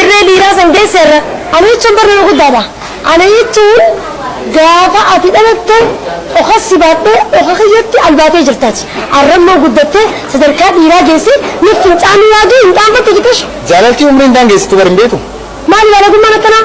Irree dhiiraa san geesse irra. Ana jechuun bar nama guddaa dha. Ana jechuun gaafa ati dhalatte oka si baadhee oka kiyyatti albaatee jirta ati. Arra immoo guddattee sadarkaa dhiiraa geessee nuuf fincaanii waagii hin qaanfatta jetta shi. Jaalalti umrii hin daangeessitu bar hin beektu. Maali baalagummaan akkanaa?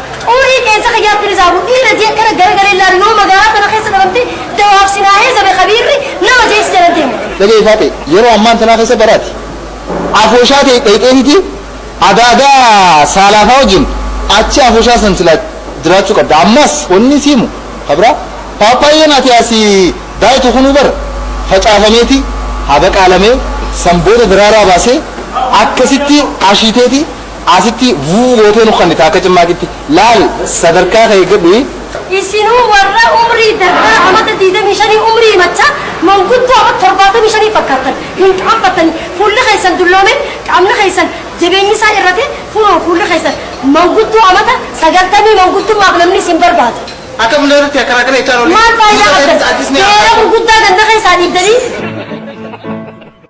Xuurii qeensa kiyyaatti ni zaabu, dhiira jee kana garagalee laalu yoo magaalaa tana keessa dhabamte dawaaf si naa heezabe kabiirri nama jee si jala deemu. Dhaga'ii Faaxee, yeroo ammaan tanaa keessa bara ati afooshaa ta'e dhayxee titi adaadaa saalaafaa wajjin achi afooshaa san silaa jiraachuu qabda. Ammas wanni si himu kabira paappaayyeen ati asi daayitu kunuu bara facaafameeti habaqaalamee san booda daraaraa baasee akkasitti ashiiteeti Asitti vuu gootee nu kannita akka cimmaaqitti. Laal sadarkaa kee eeggadhu. Isinuu warra umrii dardara amata 25 umrii himachaa manguddoo amata 75 fakkaattan hin qaanfattanii? Fuulli keessan dulloomee qaamni keessan jabeenyi isaa hir'atee kunoo fuulli keessan manguddoo amata 90 manguddummaaf namni isin barbaadu. Akka bulleeratti akkanaa kana jechaa hin oolin. Maal faayidaa qabdan? Beera gurguddaa ganda keessaa dhiibdanii.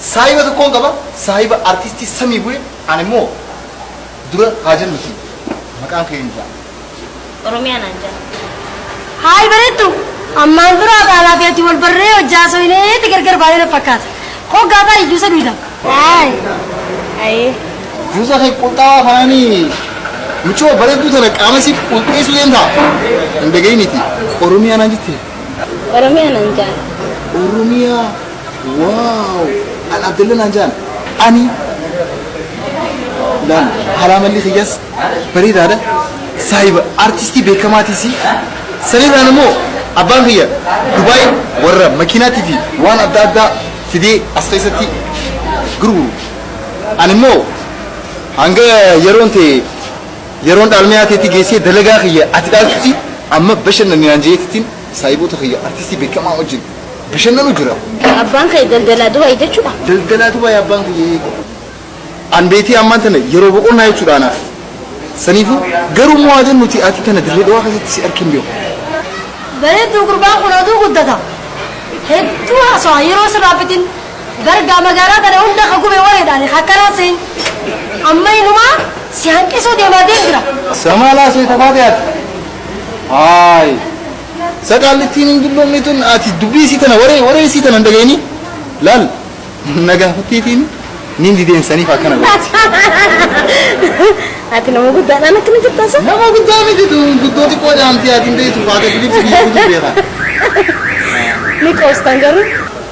Saahiba tokkon qaba saahiba artisti sami bule ani mo dura haa jennuti maqaan kee hin jaa. Oromiyaa naan jaa. Hi bareeddu! Ammaan dura anaa fi ati wal barree hojjaa haasofneeti gargar baanee na fakkaata. Hoggaa taa'e juusa dhuyda. Hi. Ayee. Juusa kee qulxaawaa kanaani michoo bareedduu tana qaama siif qulqeessuu deemtaa? Hin dhaga'initi. Oromiyaa naan jettee? Oromiyaa nan jaana. Oromiyaa waaw an Abdalla naan jaan ani laan halaa malli kiyyas bareedaadha saahiba artistii beekamaatiisi sanirraan immoo abbaan kiyya Dubaay warra makiinaatii fi waan adda addaa fidee as keessatti gurguru ani immoo hanga yeroon ta'e Yeroon dhaalmee haateetti geessee dalagaa kiyya ati dhaaltutti amma bashannanni naan je'eetittiin saahiboota kiyya artistii beekamaa wajjin bashannanu jira. Abbaan kee daldalaa Dubaay jechuudha? Daldalaa Dubaay abbaan kiyya eega. An beetii ammaan tana yeroo boqonnaa jechuudha anaaf. Saniifuu garuu immoo aadaan nuti ati tana dirree dhawaa keessatti si argin beeku. Bareedduu gurbaan kun oduu guddata. Hedduu haasawaa yeroo sirraa fitin. Dargaa magaalaa tana hunda ka gube wareedhaani ka akkanaa seeyn amma inumaa si hanqisuu deemaa deem jira. Samaa laasee tafaatee ati. Haay. Saqaallittiin hin dulloomne tun ati dubbii isii tana waree waree isii tana hin dhageenyi. Laal na gaafatteetiin niin dideensaniif akkana godhe. Ati nama guddaadhaan akkana jirta sa? Nama guddaa miti tun guddoo xiqqoo jaamtee ati hin beektu faata Filiipsi biyyuu beekaa. Ni qoostan garuu.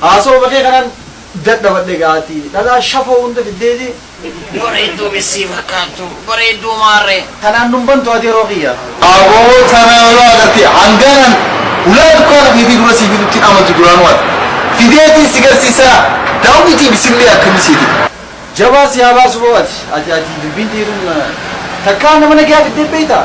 Haasawuma kee kanan dadhabadhe egaa ati dhalaa shafoo hunda fiddeeti. Bareedduu missii fakkaattu bareedduu maarree. Tanaan nun bantu ati yeroo kiyya. Aboo tanaa yoo agartee hangaan an hulaa dukkaana keetii dura sii fidutti hin amantu duraanuu ati. Fideetiin si garsiisa daawwitii bisillee akkami seete. Jabaa si haa baasu boo ati ati ati dubbiin tee tun takkaa nama nagayaa fiddee beeytaa?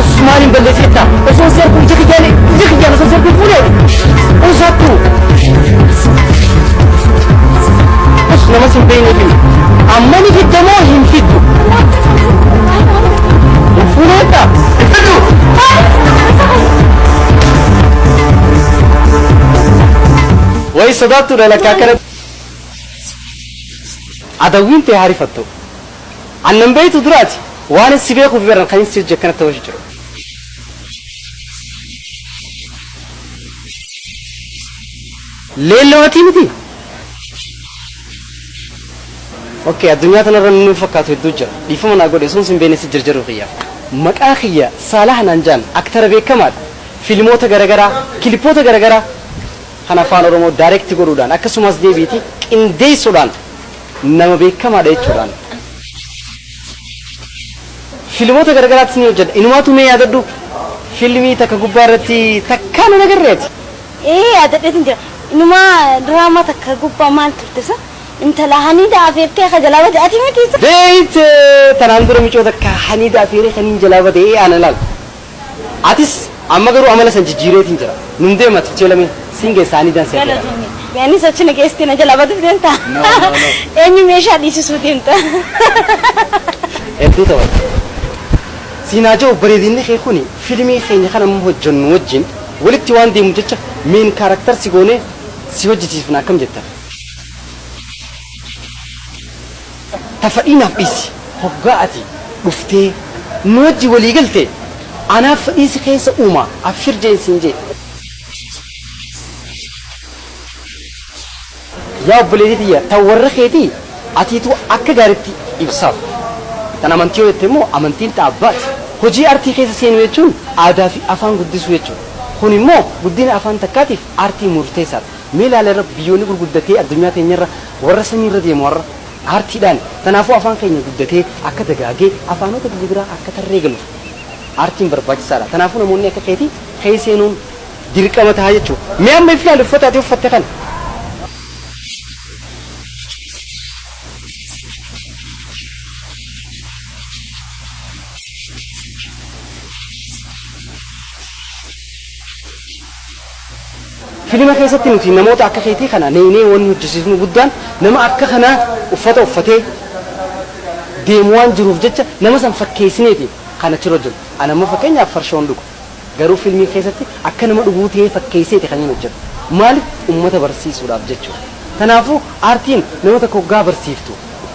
Usmaan hin balleessi jetta. Osoo si arguu ija kiyyaan ija kiyyaan osoo si arguu fuudhee. Usaattu. Us nama sin beekne fi amma ni fidda moo hin fiddu? Hin fuudhee jetta. Hin fiddu. Wayi sodaattuudha lakkaa kana. Adawwiin tee haarifattu. An nan beektu duraati waanin si beekuuf beran kanin si wajji akkanatti hawasha jiru. Leelloo atii mitii? Ok addunyaa tanarra namni na fakkaatu hedduu jira. Dhiifama naa godhi osoon sin beekne si jarjaruu kiyyaaf. Maqaa kiyya Saalaah naan ja'an aktara beekamaadha. Filmoota garagaraa, kilippoota garagaraa kan afaan Oromoo direct godhuudhaan akkasumas deebiiti qindeessuudhaan nama beekamaadha jechuudhaan. Filmoota garagaraattis ni hojjedha. Inumaatu mee yaadadhu filmii takka gubbaa irratti takkaan hin agarre ati. Ee yaadadheetin jira. Inumaa diraamaa takka gubbaa maal turte sa? Intala haniida afeertee akka jalaa bade ati miti sa? Beeyte tanaan dura micoo takka haniida afeeree kaniin jalaa bade ee ana laal. Atis amma garuu amala san jijjiireetiin jira. Nun deema tichee lamee sin geessaa ni dansa jedha. Galatoomi. Mee anis achi na geessitee na jalaa baduuf deemta? No, no, no. Eenyu meeshaa dhiisisuu deemta? Hedduu taphata. Siin haa ja'u bareedinni kee kuni filimii keenya kan amma hojjannu wajjin walitti waan deemuuf jecha main character si goonee si hojjachiisifna akkam jettan? Ta fadhii naaf dhiissi. Hoggaa ati dhuftee nu wajji walii galte anaaf fadhii si keessa uuma abshir jeen siin jee. Yaa obboleetii tiyya ta warra keetii atiitu akka gaaritti ibsaaf. Tan amantii yoo jette immoo amantiin ta abbaati. Hojii artii keessa seenuu jechuun aadaa fi afaan guddisuu jechuudha. Kun immoo guddina afaan takkaatiif aartiin murteessaadha. Mee ilaali har'a biyyoonni gurguddatee addunyaa teenyarra warra samiirra deemu har'a aartiidhaani. Tanaafuu afaan keenya guddatee akka dagaagee afaanota biyya biraa akka tarree galuuf aartiin barbaachisaadha. Tanaafuu namoonni akka keetii kee seenuun dirqama taha jechuudha. Mee amma if ilaali uffata ati uffatte kana. Filima keessatti nuti namoota akka keetii kana neynee wanni hojjisiifnu guddaan nama akka kanaa uffata uffatee deemu waan jiruuf jecha nama san fakkeeysineeti kan achirra jiru. An amma fakkeenyaaf farshoon dhuga. Garuu filmii keessatti akka nama dhuguu tahee fakkeeyseeti kaniin hojjadhu. Maalif ummata barsiisuudhaaf jechuudha. Tanaafuu aartiin nama takka hoggaa barsiiftu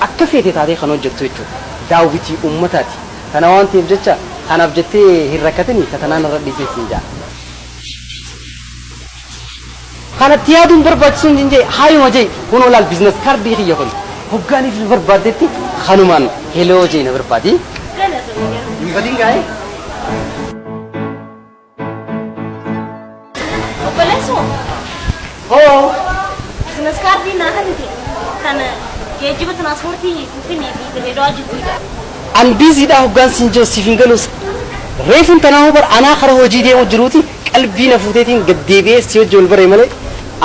akka feete taatee kan hojjattu jechuudha. Daawwitii ummataati. Tana waan taheef jecha kanaaf jettee hin rakkatini ta tanaa narra dhiisii siin ja'a. Kanatti yaaduun barbaachisuu hin jee haayuma jee kunoo laal biizines kaardii kiyya kun hoggaan ibsu barbaaddetti kanumaan heloo jee na barbaadi. Hin badin gaa'ee. Obboleessoo. Hoo business kaardii naa kennite kan geejjiba tiraanspoortii Finfinnee fi Dirreedawaa jidduudha. An busy dha hoggaan siin jiru siif hin galuus reefun tanaa hoo bar anaa kara hojii deemu jiruuti qalbii na fuuteetiin gad deebi'ee si wajji wal baree malee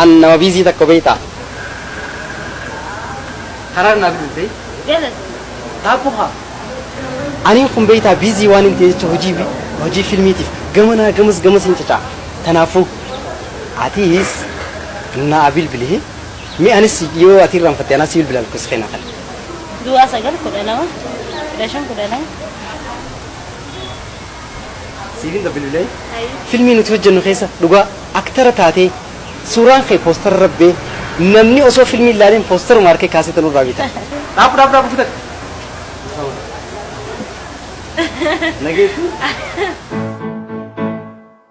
an nama busy takka beektaa karaar naa fiduu ta'e Galatoomi. taaphu haa aniin kun beektaa busy waan hin ta'e jecha hojii hojii filmiitiif gamanaa gamas gamasiin cacaa tanaafuu Atiis naa bilbili mee anis yoo ati irraan fatte anas bilbila lakkoofsa kee naa kenni. Duwwaa sagal kudha lama kudha shan kudha lama. Siifin bilbilee filmii nuti hojjennu keessa dhugaa aktara taatee suuraan kee poostara irra bee namni osoo filmii ilaaleen poostaruma harkee kaasee tanuu irraa bita. Dhaabu dhaabu dhaabu fudhadhu. Nageetu.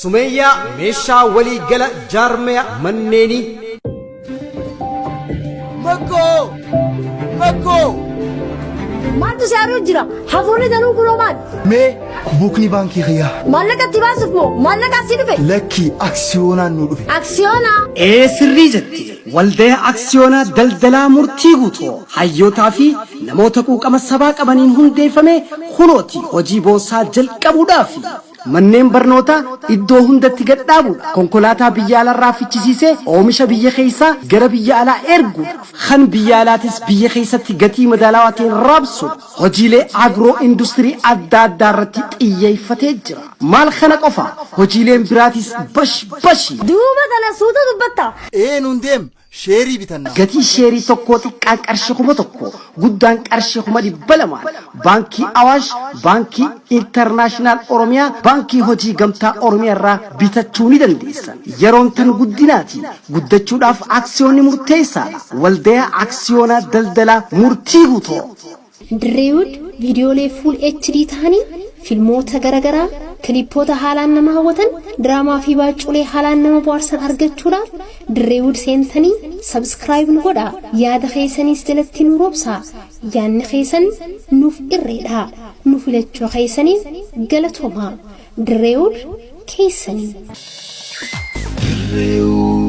Sumeeyyaa meeshaa walii gala jaarmaya manneenii. Makkoo! Makkoo! Maaltu si haaruu jira? Hafuurri danuu kunoo maal? Mee buukni baankii kiyyaa. Maallaqa itti baasuuf moo maallaqa asii dhufe? Lakkii aksiyoonaan nu dhufe. Aksiyoonaa? Ee sirrii jette waldaya aksiyoonaa daldalaa murtii guutuu hayyootaa fi namoota quuqama sabaa qabaniin hundeeffame kunooti hojii boonsaa jalqabuudhaaf. Manneen barnootaa iddoo hundatti gad dhaabu, konkolaataa biyya alarraa fichisiisee oomisha biyya keessaa gara biyya alaa ergu, kan biyya alaatis biyya keessatti gatii madaalawaa ta'een raabsu, hojiilee agroo industirii adda addaa irratti xiyyeeffatee jira. Maal kana qofa, hojiileen biraatis bash bashi! Duuba tana suuta dubbatta. Ee nuun deem Sheerii bitanna. Gatii sheerii tokkoo xiqqaan qarshii 1000, guddaan qarshii 200,000'n Baankii Awaash, Baankii Internaashinaal Oromiyaa, Baankii Hojii Gamtaa Oromiyaa irraa bitachuu ni dandeessan. Yeroon tan guddinaati. Guddachuudhaaf aksiyoonni murteessaadha. Waldayaa Aksiyoonaa Daldalaa Murtii Guutoo. Drewed viidiyoolee full HD tahaniin filmoota gara garaa, kilippoota haalaan nama hawwatan, diraamaa fi baacculee haalaan nama bohaarsan argachuudhaaf Drewed seentanii subscribe nu godhaa. Yaada keessaniis jalatti nuu roobsaa. Yaanni keessan nuuf irreedha. Nu filachuu keessaniif galatoomaa. Drewed keessanii. Drewed.